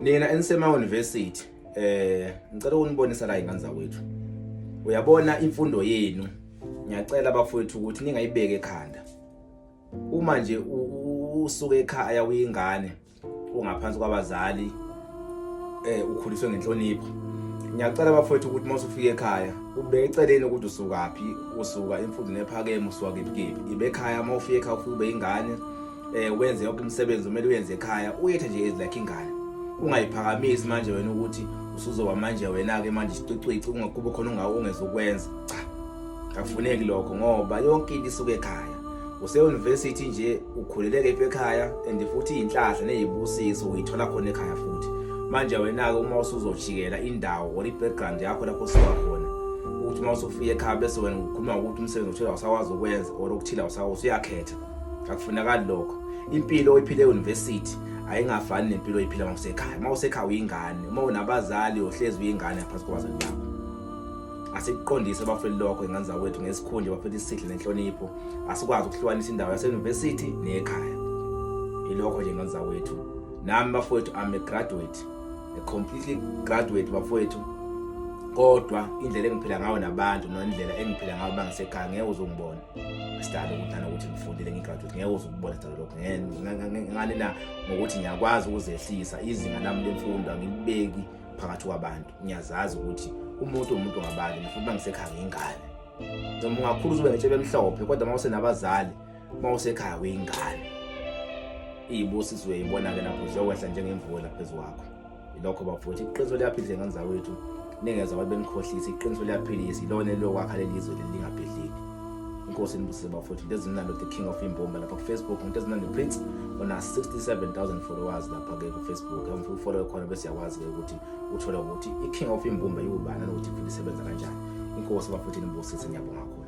Nina enisema university eh ngicela ukunibonisa la ingane zakwethu. Uyabona imfundo yenu ngiyacela bafowethu ukuthi ningayibeke ekhanda. Uma nje usuke ekhaya uyingane ungaphansi kwabazali eh ukhuliswe ngenhlonipho ngiyacela bafowethu ukuthi uma usufika ekhaya ubeke eceleni ukuthi usukaphi usuka emfundweni ephakeme usuka kephi kephi ibe ekhaya uma ufika ekhaya ufike ube ingane eh wenze yonke umsebenzi omele uyenze ekhaya uyethe nje ezi lakhe ingane ungayiphakamisi manje wena ukuthi usuzoba manje wena ke manje isicwicwici ungakubo khona ungawo ungezokwenza cha akufuneki lokho ngoba yonke into isuke ekhaya use university nje ukhuleleke iphe ekhaya and futhi inhlahla nezibusiso uyithola khona ekhaya futhi manje wena ke uma usuzojikela indawo or ibackground yakho lapho siwa khona ukuthi uma usufika ekhaya bese wena ukhuluma ukuthi umsebenzi othile awusakwazi ukwenza or okuthile awusakwazi uyakhetha akufunakali lokho impilo oyiphile euniversity ayingafani nempilo oyiphila uma usekhaya uma usekhaya uyingane uma unabazali uhlezi uyingane ngaphansi kwabazali bakho asikuqondise abafeli lokho ingane zakwethu ngesikhundla bafela isihle nenhlonipho asikwazi ukuhlukanisa indawo yaseuniversity neyekhaya ilokho nje ingane zakwethu nami bafowethu I'm a graduate a completely graduate bafowethu kodwa indlela engiphila ngayo nabantu nendlela engiphila ngayo bangisekhaya ngeke uzongibona sidalo ukuthi nana ukuthi ngifundile ngigraduate ngeke uze ukubona sidalo lokho ngani na ngokuthi ngiyakwazi ukuzehlisa izinga lami lemfundo angilibeki phakathi kwabantu ngiyazazi ukuthi umuntu umuntu ngabani ngifuna uba ngisekhaya ngiyingane noma ungakhulu uzube netshe bemhlophe kodwa uma usenabazali uma usekhaya uyingane iyibusizwe yibona-ke lapho ziyokwehla njengemvula phezu kwakho ilokho bafowethu iqiniso liyaphila izingane zawethu ningeza abantu benikhohlisa iqiniso liyaphilisa ilona eliyokwakha leli zwe leli lingabhidliki inkosi inibusise bafowethu into ezimnandi the king of imbomba lapha kufacebook into ezimnandi prince ona 67000 followers lapha-ke kufacebook amfuna ufollowe khona bese yakwazi-ke ukuthi uthole ukuthi i-king of imbumba yiwubani anokuthi iphinde isebenza kanjani inkosi bafowethu inibusise ngiyabonga khona